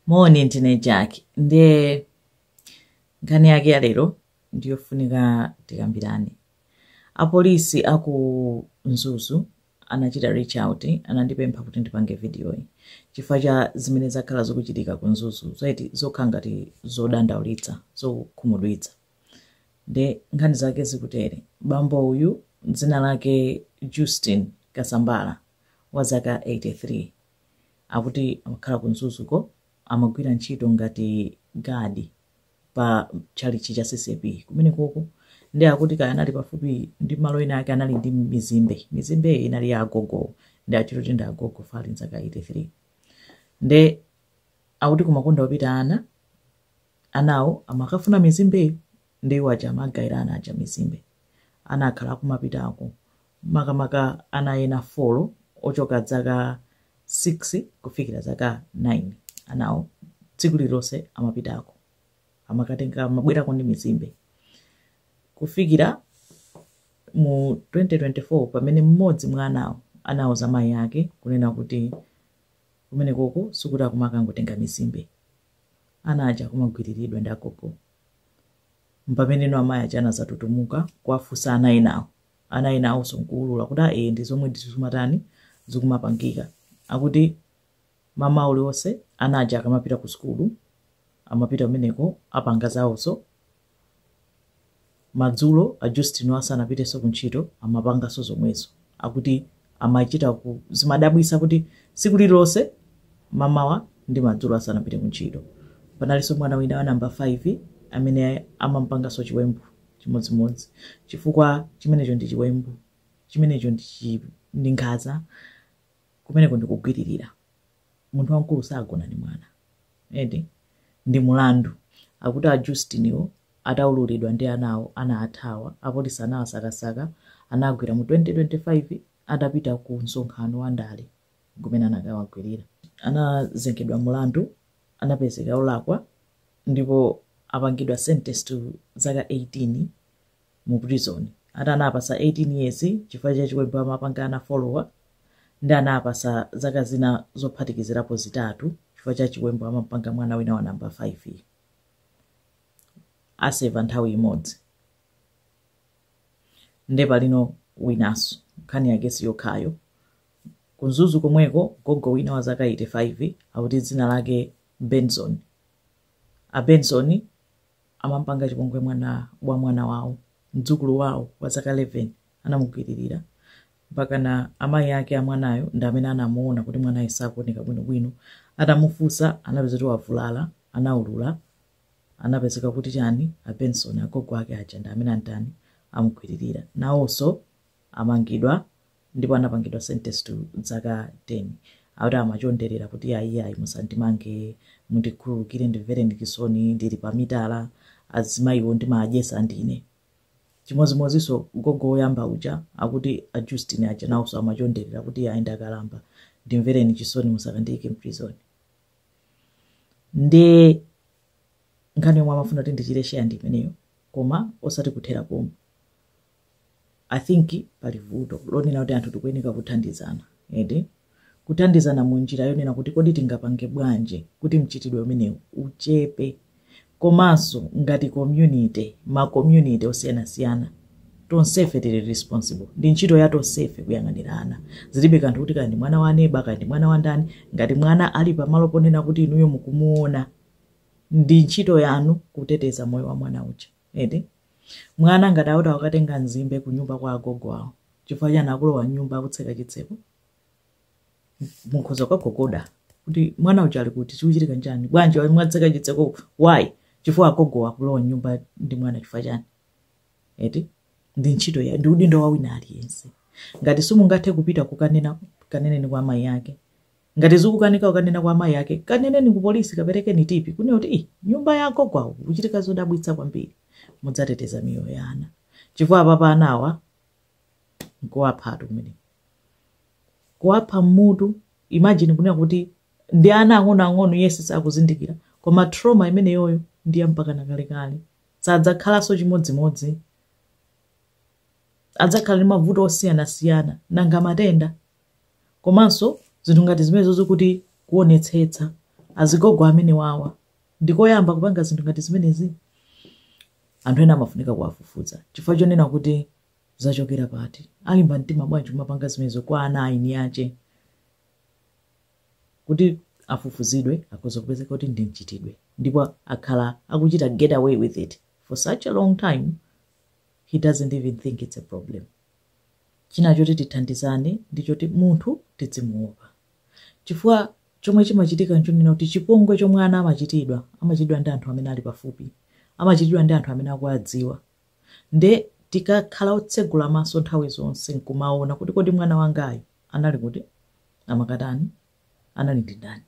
Moni ndine Jack ndiye nkhani yake ya lero ndiyofunika tikambirane. Apolisi a ku Mzuzu anachita reach out anandipempha kuti ndipange vidiyoyi chifukwa cha zimene zakhala zikuchitika ku Mzuzu zaiti zokhala ngati zodandaulitsa zokhumudwitsa. Nde nkhani zake zikutere bambo uyu dzina lake Justin Kasambala wa zaka 83 akuti amakhala ku mzuzuko amagwira ntchito ngati gadi pa tchalitchi cha ccp kumenekoko ndi akuti kaya anali pafupi ndi malo ena ake anali ndi mizimbe mizimbe inali ya agogo ndi achito kuti ndi agogo wa zaka 83 nde akuti kumakonda kupita ana anawo amakafuna mizimbeyo ndi iwo aja amagawira ana aja mizimbe ana akhala akumapitako makamaka ana ena folo ochoka zaka 6 kufikira zaka 9 anawo tsiku lililonse amapitako amakatenga amabwerako ndi mizimbe kufikira mu 2024 pamene mmodzi mwa anawo anauza mayi ake kunena kuti kumenekoko sikuti akumakangotenga mizimbe ana aja kumagwiriridwa ndi agogo mpameneno amayi aja anazatutumuka kuwafunsa ana enawo ana ena aja onse nkuulula kuti a ee ndizomwe ndithu zimatani zikumapangika akuti mmawa uliwonse ana aja akamapita ku sukulu amapita kumeneko apanga zawozo madzulo a Justiniwo asanapitenso ku ntchito amapanganso zomwezo akuti amachita kuzimadabwitsa kuti tsiku lililonse mamawa ndi madzulo asanapite ku ntchito panalinso mwana wina wa namba 5 amene amamupanganso chiwembu chimodzimodzi, chifukwa chimenecho ndi chiwembu, chimenecho ndi, chi, ndi nkhanza, kumeneko ndi kugwiririra. Munthu wamkulu sagona ndi mwana, edi ndi mulandu. Akuti a Justiniwo ataululidwa ndi anawo anathawa, apolisi anawasakasaka, anawagwira mu 2025 atapita ku msonkhano wa ndale. kumene anakawagwirira. anazengedwa mulandu anapezeka olakwa ndipo apangidwa sentence to zaka 18 mu prison ati anawapatsa 18 years chifukwa cha chiwembu amapanga ana folowa ndi anawapatsa zaka zina zophatikizirapo zitatu chifukwa cha chiwembu amapanga mwana wina wa namba 5 uja. aseva nthawi imodzi nde palino winanso nkhani yake siyokhayo Ku Mzuzu komweko, gogo wina wa zaka 85 akuti dzina lake Benson. A Benson amampanga chipongwe mwana wa mwana wawo, mdzukulu wawo wa zaka 11 anamugwiririra mpakana amayi ake a mwanayo ndi amene anamuona kuti mwanayo sakuoneka bwinobwino. Atamufunsa anapeza kuti wavulala, anaulula, anapezeka kuti chani a Benson agogo ake aja ndi amene atani amugwiririra. Nawonso amangidwa ndipo anapangidwa sentence to dzaka 10 akuti amachonderera kuti ayiyayi musandimange mundikhululukire ndimvereni chisoni ndili pa mitala azimayiwo ndimadyesa ndine chimodzimodzinso gogo woyamba uja akuti a justin aja nawonso amachonderera kuti ayi ndakalamba ndimvereni chisoni musakandiyike mprizoni nde nkhani yomwe ndimafuna kuti ndichite sheya ndi imeneyo koma osati kuthera pomwe i think pali vuto lonena kuti anthu tikuyeneka kuthandizana eti kuthandizana mu njira yonena kuti kodi tingapange bwanji kuti mchitidwe umenewu uchepe komanso ngati community ma community osiyanasiyana tonsefe tili responsible ndi ntchito ya tonsefe kuyang'anira ana zilibe kanthu kuti kaya ndi mwana wa neba kaya ndi mwana wa ndani ngati mwana ali pamalo ponena kuti inuyo mukumuona ndi ntchito yanu kuteteza moyo wa mwana uja eti Mwana ngati akuti wakatenga nzimbe kunyumba kwa agogo awo, chifukwa chani akulowa m'nyumba akutseka chitseko? Mukhoza kukagogoda kuti mwana uja ali kuti, chikuchitika nchani? Bwanji mwatseka chitseko? Why? Chifukwa agogo akulowa m'nyumba ndi mwana chifukwa chani? eti ndi ntchito ya ndi udindo wa wina aliyense ngati simungathe kupita kukanena kaneneni kwa amayi ake Ngati zikukanika kukanena kwa amayi ake, kaneneni ku polisi, kaperekeni tipi, kunena kuti ii nyumba ya agogo awo kukuchitika zodabwitsa kwambiri. Mudzateteza miyoyo ya ana. Chifukwa apapa anawa nkuwaphatu kumeneko. Kuwapha mmutu, imagine kunena kuti ndi ana ang'onoang'ono yes sakuzindikira koma trauma imeneyoyo ndi ya mpaka kalekale. Sadzakhalanso chimodzimodzi. Adzakhala ndi mavuto osiyanasiyana nanga matenda. komanso zinthu ngati zimenezozo kuti kuonetsetsa azigogo amenewawa sikoyamba kupanga zinthu ngati zimenezi anthu ena amafunika kuwafufuza chifukwa chonena kuti zachokera pati alimba mtima bwanji kumapanga zimenezo kwa ana aini ache kuti afufuzidwe akhoza kupezeka kuti ndi mchitidwe ndipo akhala akuchita get away with it for such a long time he doesn't even think it's a problem china choti tithandizane ndi choti munthu tidzimuopa chifukwa chomwe chimachitika nchonena kuti chipongwe chomwe ana amachitidwa amachitidwa ndi anthu amene ali pafupi amachitidwa ndi anthu amene akuwadziwa nde tikakhala otsegula maso nthawi zonse nkumaona kuti kodi mwana wangayu anali kuti amakatani anali ndi ndani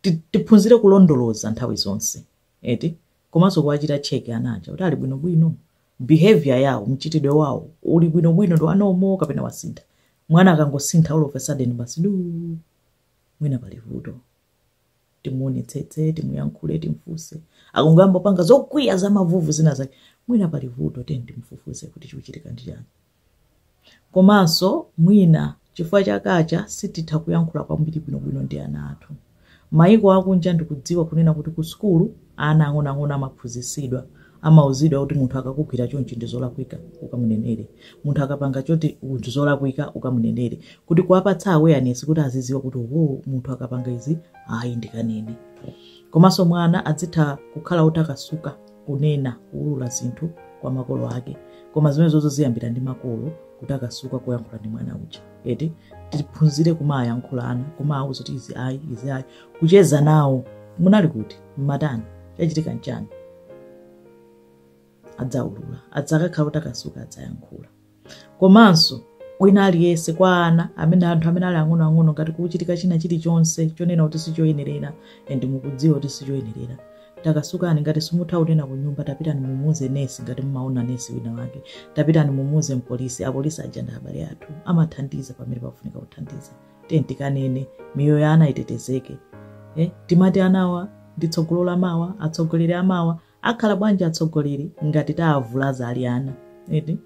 Ti- tiphunzire kulondoloza nthawi zonse eti komanso kuwachita check ana aja kuti ali bwinobwino behavior yawo, mchitidwe wawo uli bwino bwino ndi wa normal kapena wasintha. Mwana akangosintha all of a sudden basi duu mwina pali vuto. Timuonetsetse, timuyankhule, timfunse. Akungoyamba kupanga zokwiya za mavuvu zina zake mwina pali vuto tiyeni timufufuze kuti chikuchitika ndi chani. Komanso mwina chifukwa cha culture sititha kuyankhula kwambiri bwinobwino ndi ana athu. Mayiko akunja ndikudziwa kunena kuti ku sukulu ana ang'onoang'ono amaphunzisidwa, amauzidwa kuti munthu akakugwira chonchi ndi zolakwika ukamunenere, munthu akapanga choti ndi zolakwika ukamunenere, kuti kuwapatsa awareness kuti aziziwa kuti oho munthu akapanga izi ayi ndikanene. Komanso mwana adzitha kukhala otakasuka. kunena kuulula zinthu kwa makolo ake koma zimenezozo ziyambira ndi makolo kutakasuka kuyankhula ndi mwana uja eti tiphunzire kumawayankhula ana kumawauza kuti izi ayi izi ayi kucheza nawo munali kuti mmatani chachitika nchani adzaulula adzakakhala otakasuka adzayankhula komanso wina aliyense kwa ana amene anthu amene ali ang'onoang'ono ngati kukuchitika china chilichonse chonena kuti sichoyenerera and mukudziwa kuti sichoyenerera takasukani ngati simutha kunena ku nyumba tapitani mumuuze nesi ngati mumaona nesi wina wake tapitani mumuuze mpolisi apolisi aja ndi abale athu amathandiza pamene pafunika kuthandiza tiyeni tikanene miyoyo ya ana itetezeke eh? timati anawa ndi tsogolo la mawa atsogoleri amawa akhala bwanji atsogoleri ngati taavulaza ali ana eti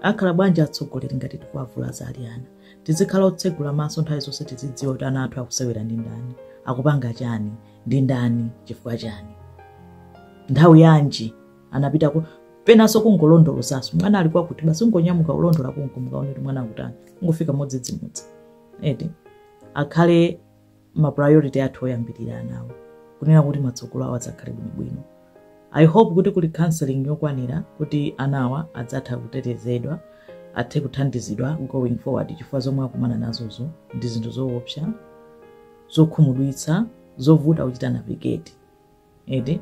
akhala bwanji atsogoleri ngati tikuavulaza ali ana tizikhala otsegula maso nthawi zonse tizidziwa kuti ana athu akusewera ndi ndani akupanga chani ndi ndani chifukwa chani nthawi yanji anapita kuti penanso kungolondolozaso mwana ali kwakuti basi ungonyamuka ulondola kunko mukaone kuti mwana akutani ungofika modzidzimutsa eti akhale ma priority athu oyambirira anawo kunena kuti matsogolo awo adzakhale bwinobwino i hope kuti kuli counseling yokwanira kuti anawa adzatha kutetezedwa athe kuthandizidwa going forward chifukwa zomwe akumana nazozo ndi zinthu zoopsa zokhumudwitsa zovuta kuchita navigate eti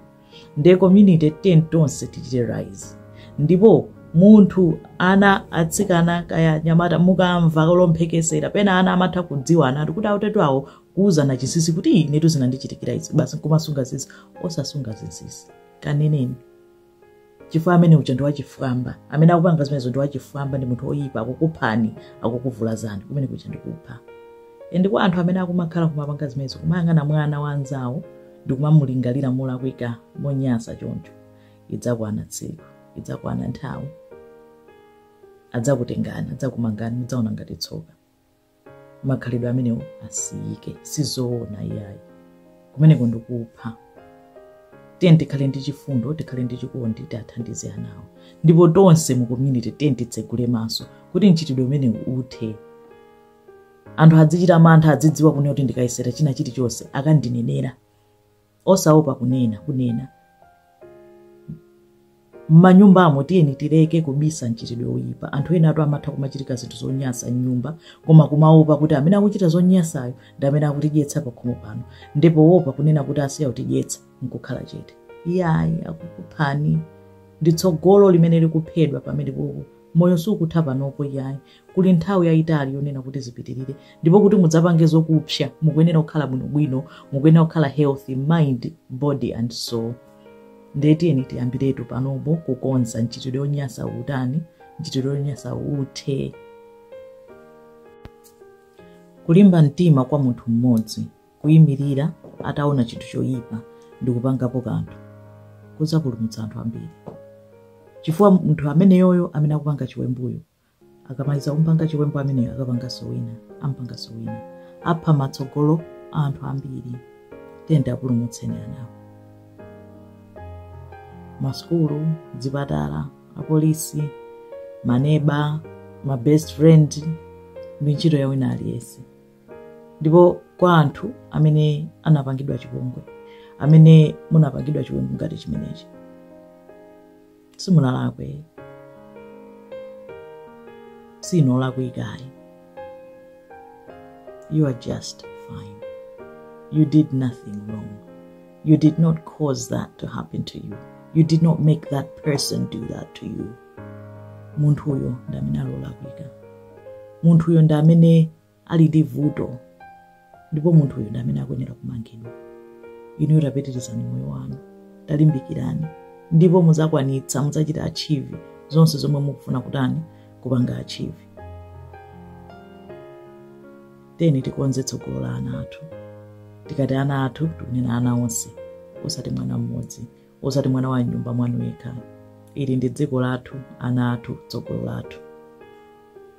nde community tiyeni tonse tichite rise ndipo munthu ana atsikana kaya nyamata mukamva lomphekesera pena ana amatha kudziwa anatu kuti autatu awo kuuzana chinsisi kuti inetu zinandichitikira izi basi nkumasunga zinsisi osasunga zinsisi kaneneni chifukwa amene uja ndi wachifwamba amene akupanga zimenezo ndi wachifwamba ndi munthu woyipa akukuphani akukuvulazani kumene kuja ndikupha and kwa anthu amene akumakhala kumapanga zimenezo kumayang'ana mwana wa anzawo ndi kumamulingalira molakwika monyasa choncho idzakwana tsiku idzakwana nthawi adzakutengani adzakumangani mudzaona ngati tsoka makhalidwe amenewo asiyike sizoona iyayi kumeneko ndikupha tiyeni tikhale ndi chifundo tikhale ndi chikondi tiathandize anawo ndipo tonse mu community tiyeni titsegule maso kuti mchitidwe umenewu uthe anthu adzichita mantha adzidziwa kunena kuti ndikayesera china chilichonse akandinenera osaopa kunena kunena mmanyumbamo tiyeni tileke kubisa mchitidwe oyipa anthu ena atu amatha kumachitika zinthu zonyasa mnyumba koma kumaopa kuti amene akuchita zonyasayo ndi amene akutidyetsa pakhomo pano ndipo wopa kunena kuti asiya kutidyetsa nkukhala chete iyayi akukuphani ndi tsogolo limene likuphedwa pamenepopo moyo siukutha panopo iyayi kuli nthawi yayitali yonena kuti zipitirire ndipo kuti mudzapange zokupsa mukuyenera kukhala bwinobwino mukuyenera kukhala healthy mind body and soul ndiye tiyeni tiyambiretu panopo kukonza mchitidwe wonyasa utani mchitidwe wonyasa uthe kulimba mtima kwa munthu mmodzi kuyimirira ataona chinthu choyipa ndi kupangapo kanthu kudzapulumutsa anthu ambiri chifukwa munthu ameneyoyo amene akupanga chiwembuyo akamaliza kumpanga chiwembu ameneyo akapanganso wina ampanganso wina apha matsogolo a anthu ambiri tiyeni tiapulumutse anawo masukulu zipatala apolisi maneba ma best friend ndi ntchito ya wina aliyense ndipo kwa anthu amene anapangidwa chipongwe amene munapangidwa chiwembu ngati chimenechi simunalakwe si inu olakwika ayi you are just fine you did nothing wrong you did not cause that to happen to you you did not make that person do that to you munthuyo ndi amene ali olakwika munthuyo ndi amene ali ndi vuto ndipo munthu uyu ndi amene akuyenera kumangidwa inuyo tapitirizani moyo wanu talimbikirani ndipo muzakwanitsa muzachita achieve zonse zomwe mukufuna kutani kupanga achieve tiyeni tikonze tsogolo la ana athu tikati ana athu tikunena ana onse osati mwana mmodzi osati mwana wa mnyumba mwanu yekha ili ndi dziko lathu ana athu tsogolo lathu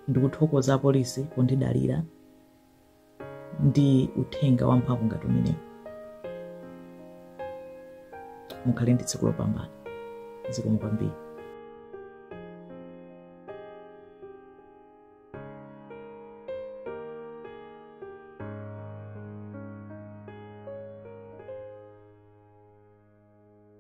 ndikuthokoza apolisi pondidalira ndi uthenga wamphamvu ngati umenewu mukhale ndi tsiku lopambana zikomo kwambiri